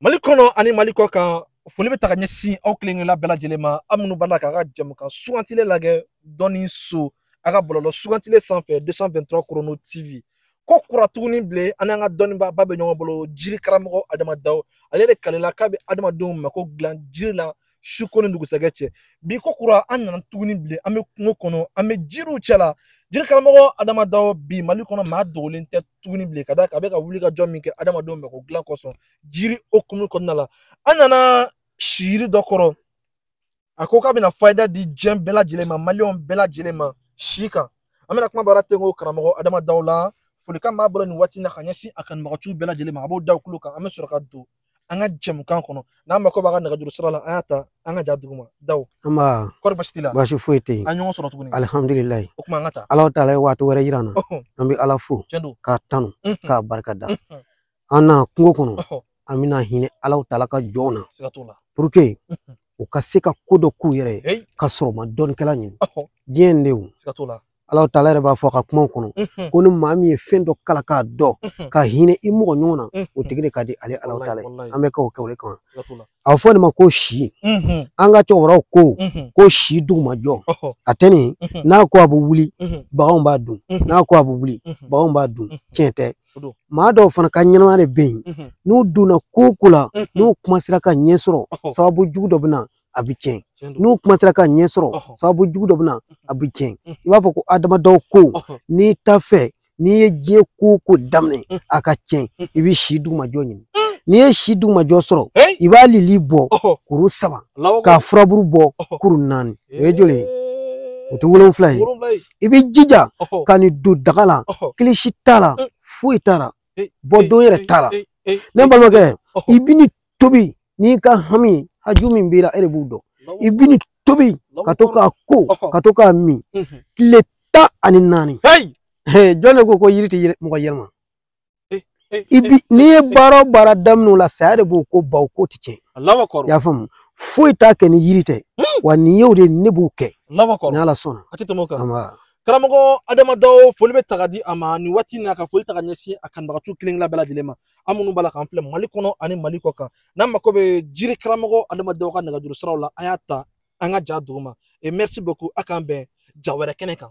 mali kɔnɔ ani mali kɔ kan foli bɛ taa ka ɲɛsin aw kelenkelenna bɛɛ lajɛlen ma aw minnu b'a la k'a ka jɛmukan sugantile lagɛ dɔnni so a ka bɔlɔlɔ sugantile sanfɛ 223 chrono tv ko kura tuguni bilen an n'an ka dɔnnibaa ba bɛ ɲɔgɔn bolo jiri karamɔgɔ adama dawo ale de kalela k'a bɛ adamadenw mako dilan jiri la su ko ni dugusɛgɛ cɛ bi ko kura an nana tuguni bilen an bɛ kungo kɔnɔ an bɛ jiriw cɛla jiri karamɔgɔ adama dawo bi mali kɔnɔ maa dogolen tɛ tuguni bilen ka d'a kan a bɛ ka wuli ka jɔ min kɛ adamadenw mako dilan kosɔn jiri hukumu kɔnɔna la an nana si yiri dɔ kɔrɔ a ko k'a bɛna fayida di diɲɛ bɛɛ lajɛlen ma maliyɛnw bɛɛ lajɛlen ma si kan an bɛna kumabara tɛnku karamɔgɔ adama dawo la folikan b'a bolo nin waati in na ka ɲɛsin a kanubaganciw bɛɛ lajɛlen ma a b'o da u tulo kan an bɛ sɔrɔ ka don an ka jɛmukan kɔnɔ n'aw mako b'a ka nɛgɛjuru sira la aw y'a ta an ka ja duguma dawo an b'a kɔri baasi t'i la baasi foyi tɛ yen an ɲɔgɔn sɔrɔ tuguni alihamdulilayi o kuma an ka taa ala taala ye waati wɛrɛ yira an na an bɛ ala fo k'a tanu k'a barika da an nana kungo kɔnɔ an bɛna hinɛ ala taala ka jɔnw na pour que u ka se ka ko dɔ k'u yɛrɛ ye ka sɔrɔ u ma dɔnnikɛla ɲini diɲɛ in de ala taala yɛrɛ b'a fɔ a ka kumaw kɔnɔ ko ni maa min ye fɛn dɔ kalan k'a dɔn ka hinɛ i mɔgɔ ɲɔgɔn na o tigi de ka di ale ala taala ye an bɛ k'o kɛ o de kama a bɛ fɔ nin ma ko si an ka cɛkɔrɔbaw ko ko si dugumajɔ a tɛ nin n'a ko a bɛ wuli baganw b'a dun n'a ko a bɛ wuli baganw b'a dun tiɲɛ tɛ maa dɔw fana ka ɲɛnamaya de bɛ yen n'u donna ko o ko la n'u kuma sera ka ɲɛ sɔrɔ sababu jugu dɔ bɛ na a bɛ tiɲɛ n'u kuma sera ka ɲɛ sɔrɔ sababu jugu dɔ bɛ na a bɛ tiɲɛ i b'a fɔ ko adama dawo ko n'i t'a fɛ n'i ye diɲɛ ko o ko daminɛ a ka tiɲɛ i bɛ si dugumajɔ ɲini n'i ye si dugumajɔ sɔrɔ i b'a lili bɔ kuru saba k'a furaburu bɔ kuru naani o ye joli ye o tɛ wolonfila ye i bɛ jija ka nin don daga la kilisi t'a la foyi t'a la bɔ don yɛrɛ t'a la ne balimakɛ i bɛ nin tobi n'i ka hami haju min b'i la e de b'o dɔn i bɛ nin tobi ka to k'a ko ka to k'a min tile mhm. tan ani naani jɔn de ko ko yiri tɛ mɔgɔ yɛlɛma eh, eh, i bi eh, n'i ye baara o baara daminɛ o la saya de b'o ko ban o ko tɛ tiɲɛ i y'a faamu foyi t'a kɛ ni yiri tɛ hmm. wa nin y'o de ne b'o kɛ ni ala sɔnna a tɛ tɛmɛ o kan karamɔgɔ adama dawo foli bɛ taa ka di a ma nin waati in na ka foli taa ka ɲɛsin a kanubaganciw kelen kelen bɛɛ lajɛlen ma aw minnu b'a la k'an filɛ mali kɔnɔ ani mali kɔ kan n'aw mako bɛ jiri karamɔgɔ adama dawo ka nɛgɛjuru siraw la aw y'a ta an ka ja duguma et merci beaucoup a k'an bɛn ja wɛrɛ kɛnɛ kan